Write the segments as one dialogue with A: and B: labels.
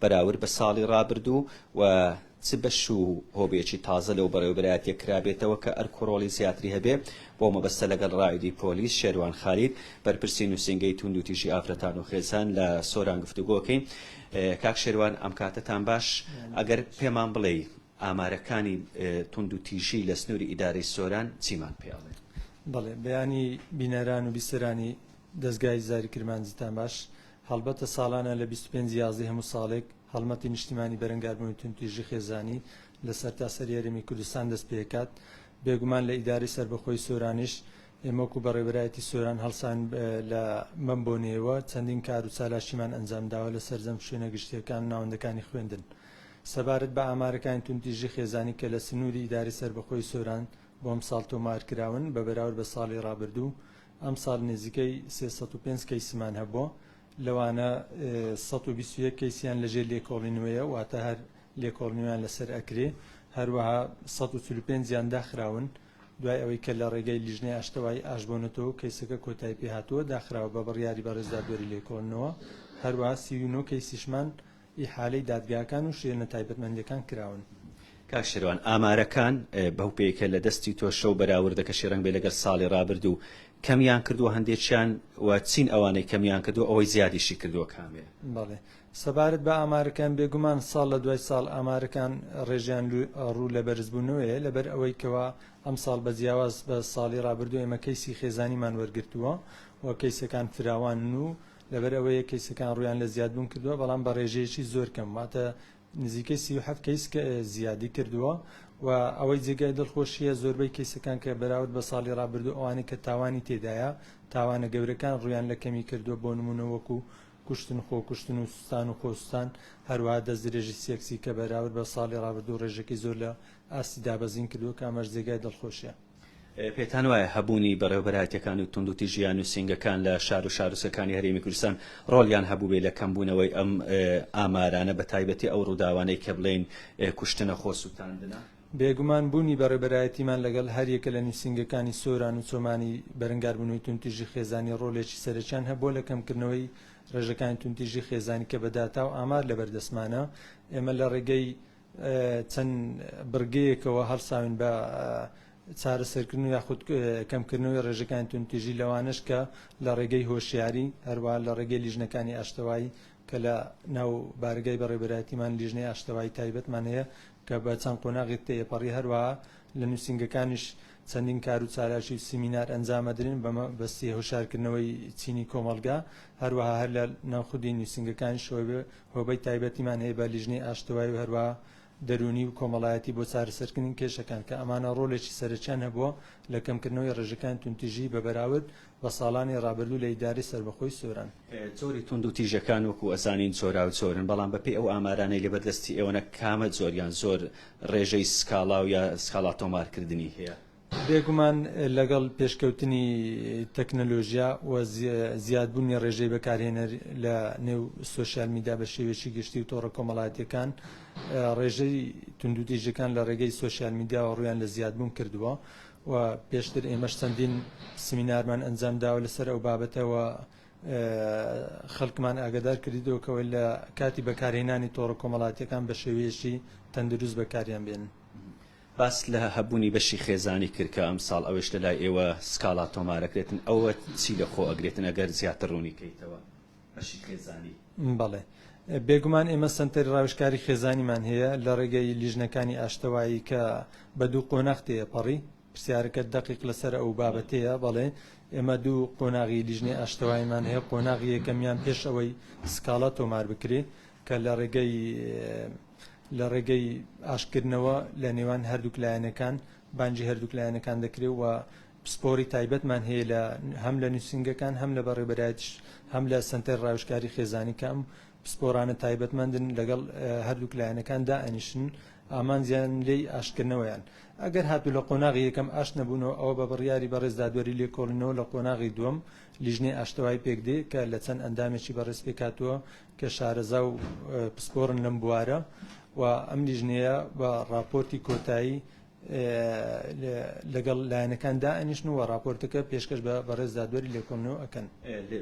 A: بەراورد بە ساڵی رابردوو و چ بەش و هۆبەیەکی تازە لەو بەڕێوەبەرایەتیە کرابێتەوە کە ئەرک و رۆڵی زیاتری هەبێ، بەو مەبەستە لەگەڵ رائیدی پۆلیس شێروان خالید بەرپرسی نوسینگەی توندوتیژی ئافرەتان و خێزان لە سۆران گفتوگۆ ئەکەین. کاک شێروان ئەم کاتەتان باش ئەگەر پێمان بڵێی ئامارەکانی توندوتیژی لە سنووری ئیدارەی سۆران چیمان پێ ئەڵێن؟ بەڵێ، بەیانی
B: بینەران و بیسەرانی دەزگای زاری کرمانجیتان باش، هەڵبەتە ساڵانە لە بیست و پێنج یازدەی هەموو ساڵێک هەڵمەتی نیشتیمانی بەرەنگاربوونی توندوتیژی خێزانی لە سەرتاسەری هەرێمی کوردستان دەست پێ ئەکات، بێگومان لە ئیدارەی سەربەخۆی سۆرانیش ئێمە وەکوو بەڕێوەبەرایەتی سۆران هەڵسان لە مەم بۆنەیەوە چەندین کار و چالاکیمان ئەنجام داوە لە سەرجەم شوێنە گشتییەکان و ناوەندەکانی خوێندن. سەبارەت بە ئامارەکانی توندوتیژی خێزانی کە لە سنووری ئیدارەی سەربەخۆی سۆران بۆ ئەمساڵ تۆمارکراون بە بەراورد بە ساڵی رابردوو، ئەمساڵ نزیکەی سێ سەد و پێنج کەیسمان هەبووە، لەوانە سەد و بیست و یەک کەیسیان لەژێر لێکۆڵینەوەیە واتە هەر لێکۆڵینەوەیان لەسەر ئەکرێ، هەروەها سەد و چل و پێنج یان داخراون، دوای ئەوەی کە لە رێگەی لیژنەی ئاشتەوایی ئاش بۆ نەتەوە کەیسەکە کۆتایی پێهاتووە داخراوە بە بڕیاری بەڕێز دادوەری لێکۆڵینەوە، هەروەها سی و نۆ کەیسیشمان ئیحالەی دادگاکان و شوێنە تایبەتمەندەکان کراون. کاک شێروان
A: ئامارەکان بەو پێی کە لە دەستی تۆشە و بەراوردە کە شی رەنگ بێ لەگەل سالی رابردوو کەمیان کردووە هەندێکیان و چین ئەوانەی کەمیان کردووە ئەوەی زیادیشی کردووە کامەیە؟ بەڵێ
B: سەبارەت بە ئامارەکان بێگومان ساڵ لە دوای ساڵ ئامارەکان رێژیان روو لە بەرز بوونەوەیە لەبەر ئەوەی کەوا ئەم ساڵ بە جیاواز بە ساڵی رابردوو ئێمە کەیسی خێزانیمان وەرگرتووە و کەیسەکان فراوانن و لەبەر ئەوەیە کەیسەکان ڕوویان لە زیادبوون کردووە، بەڵام بە ڕێژەیەکی زۆر کەم، واتە نزیکەی سی و حەفت کەیس زیادی کردووە و ئەوەی جێگای دڵخۆشییە زۆربەی کەیسەکان کە بەراورد بە ساڵی ڕابردوو ئەوانەی کە تاوانی تێدایە، تاوانە گەورەکان ڕوویان لە کەمی کردووە بۆ نموونە وەکوو کوشتن، خۆکوشتن و سوتان و خۆسوتان، هەروەها دەستدرێژی سێکسی کە بەراورد بە ساڵی ڕابردوو ڕێژەکەی زۆر لە ئاستی دابەزین کردووە کە ئەمەش جێگای دڵخۆشییە. پێتان
A: وایە هەبوونی بەڕێوەبەرایەتیەکان و توندوتیژی یا نوسینگەکان لە شار و شاروچکەکانی هەرێمی کوردستان ڕۆڵیان هەبووبێ لە کەمبوونەوەی ئەم ئامارانە بە تایبەتی ئەو ڕووداوانەی کە بڵێین کوشتنە خۆ سوتاندنە؟ بێگومان بوونی
B: بەڕێبەرایەتیمان لەگەڵ هەر یەکە لە نوسینگەکانی سۆران و چۆمانی بەرنگاربوونەوەی توندتیژی خێزانی ڕۆلێکی سەرەکیان هەبووە لە کەمکردنەوەی ڕێژەکانی توندتیژی خێزانی کە بە داتا و ئامار لەبەردەستمانە ئێمە لە ڕێگەی چەند بڕگەیەکەوە هەڵساوین بە چارەسەرکردن یاخود کەمکردنەوەی ڕێژەکانی توندتیژی لەوانەش کە لە ڕێگەی هۆشیاری هەروە لە ڕێگەی لیژنەکانی ئاشتەوایی کە لە ناو بارگای بەڕێبەرایەتیمان لیژنەی ئاشتەوایی تایبەتمان هەیە کە بە چەند قۆناغی تێپەڕی هەروە لە نووسنگەکانیش چەندین کار و چالاکی و سیمینار ئەنجامەدرێن بەمە بەستی هۆشارکردنەوەی چینی کۆمەڵگا هەروەها هەر لە ناوخودی نووسنگەکانی شۆێ هۆبەی تایبەتیمان هەیە بە لیژنەی ئاشتەوایی و هەروەها دەروونی و کۆمەڵایەتی بۆ چارەسەرکردنی کێشەکان کە ئەمانە ڕۆلێکی سەرەکیان هەبووە لە کەمکردنەوەی ڕێژەکانی توندتیژی بە بەراورد بە ساڵانی ڕابردوو لە ئیدارەی سەربەخۆی سۆران. جۆری
A: توندوتیژەکان وەکو ئەزانین جۆراوجۆرن، بەڵام بەپێی ئەو ئامارانەی لە بەردەستی ئێوەنە کامە جۆریان زۆر ڕێژەی سکاڵا و یا سکاڵا تۆمارکردنی هەیە؟ بێگومان
B: لەگەڵ پێشکەوتنی تەکنەلۆژیا و زیادبوونی ڕێژەی بەکارهێنەر لە نێو سوسیال میدیا بە شێوێکی گشتی و تۆڕە کۆمەڵاتیەکان ڕێژەی توندوتیژەکان لە ڕێگەی سوسیال میدیا و ڕویان لە زیادبوون کردووە و پێشتر ئێمەش چەندین سمینارمان ئەنجام داوە لەسەر ئەو بابەتەوە خەڵکمان ئاگدار کردیدۆکەوە لە کاتی بەکارهێنانی تۆڕە کۆمەڵاتیەکان بە شێوەیەشی تەندروست بەکاریان بێن. باست لە
A: هەبوونی بەشی خێزانی کرد کە ئەمساڵ ئەوەیش لە لای ئێوە سکاڵا تۆمارەکرێتن ئەوە چی لە خۆ ئەگرێتن ئەگەر زیاتر ڕوونی کەیتەوە بەشی خێزانی. بەڵێ
B: بێگومان ئێمە سەنتەری ڕاوێژکاری خێزانیمان هەیە لە ڕێگەی لیژنەکانی ئاشتەوایی کە بە دوو قۆناغ تێەپەڕی پرسیارەکە دەقیق لەسەر ئەو بابەتەیە بەڵێ ئێمە دوو قۆناغی لیژنەی ئاشتەواییمان هەیە قۆناغی یەکەمیان پێش ئەوەی سکاڵا تۆمار بکرێ کە لە ڕێگەی لە ڕێگەی ئاشتکردنەوە لە نێوان هەردووک لایەنەکان بانگی هەردووک لایەنەکان دەکرێت و پسپۆری تایبەتمان هەیە لە هەم لە نووسینگەکان هەم لە بەڕێبەرایتش هەم لە سنتەر ڕاوشکاری خێزانی کە ئەم پسپۆرانە تایبەتمەندن لەگەڵ هەردووک لایەنەکان دائەنیشن ئامانجیان لێی ئاشتکردنەوەیان ئەگەر هاتوو لە قۆناغی یەکەم ئاش نەبوونەوە ئەوە بە بڕیاری بەڕێز دادوەری لێکۆڵینەوە لە قۆناغی دووەم لیژنەی ئاشتەوای پێکدێ کە لە چەند ئەندامێکی بەڕێز پێکاتوە کە شارەزا و پسپۆڕن لەم بوارە و ئەم لیژنەیە بە ڕاپۆرتی کۆتایی لەگەڵ لایەنەکان دائەنیشن و ڕاپۆرتەکە پێشکەش بە بەڕێز دادوەری لێکۆڵینەوە ئەکەن.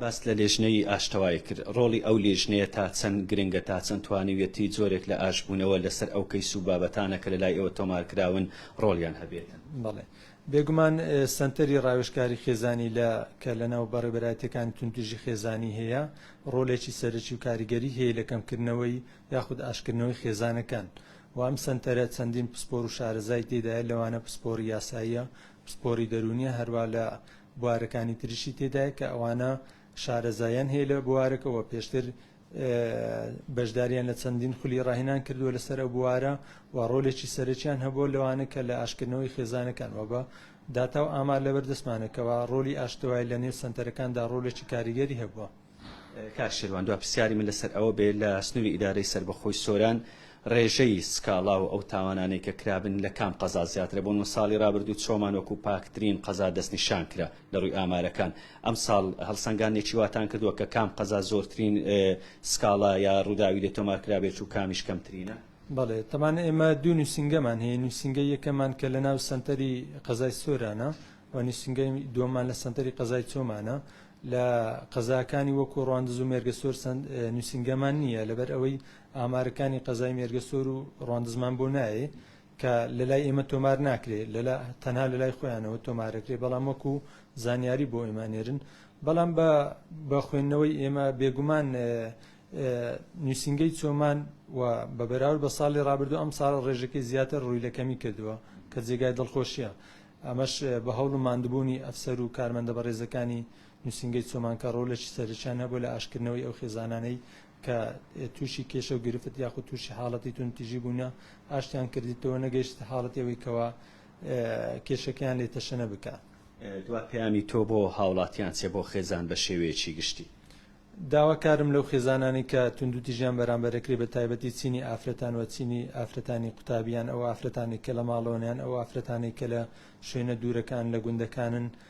B: باست لە
A: لێژنەی ئاشتەوایی کرد، ڕۆڵی ئەو لێژنەیە تا چەند گرنگە، تا چەند توانیویەتی جۆرێک لە ئاشبوونەوە لەسەر ئەو کەیس و بابەتانە کە لەلای ئێوە تۆمارکراون ڕۆڵیان هەبێت؟ بەڵێ،
B: بێگومان سەنتەری ڕاوێژکاری خێزانی لە کە لەناو بە ڕێبەرایەتیەکانی توندوتیژی خێزانی هەیە ڕۆلێکی سەرەکی و کاریگەری هەیە لە کەمکردنەوەی یاخود ئاشتکردنەوەی خێزانەکان و ئەم سەنتەرە چەندین پسپۆر و شارەزای تێدایە لەوانە پسپۆری یاساییە پسپۆری دەروونیە هەروا لە بوارەکانی تریشی تێدایە کە ئەوانە شارەزایان هەیە لە بوارەکە و پێشتر بەشدارییان لە چەندین خولی ڕاهێنان کردووە لەسەر ئەو بوارە و ڕۆلێکی سەرەکییان هەبووە لەوانە کە لە ئاشتکردنەوەی خێزانەکان و بە داتا و ئامار لەبەر دەستمانە کەوا ڕۆلی ئاشتەوای لە نێو سەنتەرەکاندا ڕۆلێکی کاریگەری هەبووە. کاک
A: شێروان دوا پرسیاری من لەسەر ئەوە بێ لە سنووری ئیدارەی سەربەخۆی سۆران ڕێژەی سکاڵا و ئەو تاوانانەی کە کرابن لە کام قەزا زیاترە بۆ نموونە ساڵی ڕابردوو چۆمان وەکوو پاکترین قەزا دەستنیشان کرا لە ڕووی ئامارەکان ئەمساڵ هەڵسەنگاندنێکی واتان کردووە کە کام قەزا زۆرترین سکاڵا یا ڕووداوی لێ تۆمارکرابێت و کامیش کەمترینە؟ بەڵێ تەمان
B: ئێمە دوو نووسینگەمان هەیە، نووسینگەی یەکەمان کە لەناو سەنتەری قەزای سۆرانە و نووسینگەی دووەممان لە سەنتەری قەزای چۆمانە، لە قەزاکانی وەکو ڕواندز و مێرگەسۆر نووسینگەمان نییە لەبەر ئەوەی ئامارەکانی قەزای مێرگەسۆر و ڕواندزمان بۆ نایێ، کە لەلای ئێمە تۆمار ناکرێ لەلا تەنها لەلای خۆیانەوە تۆمارەکرێ بەڵام وەکو زانیاری بۆ ئێمانێرن بەڵام بە بە خوێندنەوەی ئێمە بێگومان نووسنگەی چۆمان و بە بەراورد بە ساڵی رابردو ئەم ساڵ ڕێژەکەی زیاتر ڕووی لە کەمی کردووە کە جێگای دڵخۆشیە ئەمەش بە هەوڵ و مادبوونی ئەفسەر و کارمەندە بەڕێزەکانی نووسنگەی چۆمان کە ڕۆلێکی سەرچیان هەبوو لە ئاشکردنەوەی ئەو خێزانانەی کە تووشی کێشە و گرفت یاخود تووشی حاڵەتی توندتیژی بوونە ئاشتیان کردیتەوە نەگەیشتە حاڵەتی ئەوەی کەوا کێشەکەیان لێ تەشەنە بکا. دوا پەیامی
A: تۆ بۆ هاوڵاتیان چێ بۆ خێزان بە شێوەیەکی گشتی؟ داواکارم
B: لەو خێزانانەی کە توندوتیژیان بەرامبەر دەکرێت بە تایبەتی چینی ئافرەتان و چینی ئافرەتانی قوتابیان ئەو ئافرەتانی کە لە ماڵەوەنیان ئەو ئافرەتانی کە لە شوێنە دوورەکان لە گوندەکانن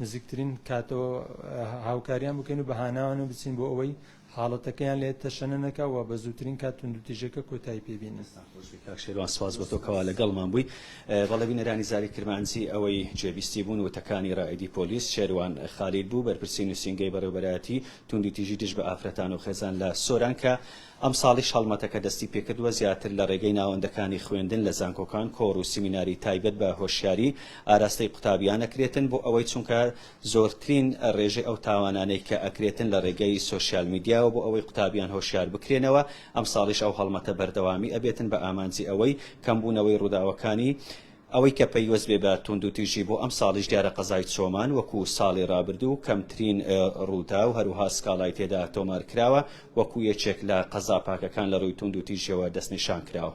B: نزیکترین کاتەوە هاوکاریان بکەین و بە هاناوانە بچین بۆ ئەوەی حاڵەتەکەیان لێت تەشەنە نەکە و بە زووترین کات توندوتیژەکە کۆتایی پێبین شێوان
A: سواز بۆ تۆکەوا لەگەڵمان بووی بەڵێ بینەرانی زاری کرمانجی ئەوەی جێبیستی بوون وتەکانی ڕائدی پۆلیس شێروان خالید بوو بەرپرسی نووسینگەی بەڕێوبەرایەتی توندوتیژی دژ بە ئافرەتان و خێزان لە سۆران کە ئەمساڵیش هەڵمەتەکە دەستی پێکردووە زیاتر لە ڕێگەی ناوەندەکانی خوێندن لە زانکۆکان کۆڕ و سیمیناری تایبەت بە هۆشیاری ئاراستەی قوتابیان ئەکرێتن بۆ ئەوەی چونکە زۆرترین ڕێژەی ئەو تاوانانەی کە ئەکرێتن لە ڕێگەی سۆشیال میدیاوە بۆ ئەوەی قوتابیان هۆشیار بکرێنەوە ئەمساڵیش ئەو هەڵمەتە بەردەوامی ئەبێتن بە ئامانجی ئەوەی کەمبوونەوەی ڕووداوەکانی ئەوەی کە پەیوەست بێ بە توندوتیژی بۆ ئەمساڵیش دیارە قەزای چۆمان وەکو ساڵی رابردوو کەمترین رووداو هەروەها سکاڵای تێدا تۆمار کراوە وەکو یەکێک لە قەزا پاکەکان لە رووی توندوتیژیەوە دەستنیشان کراوە.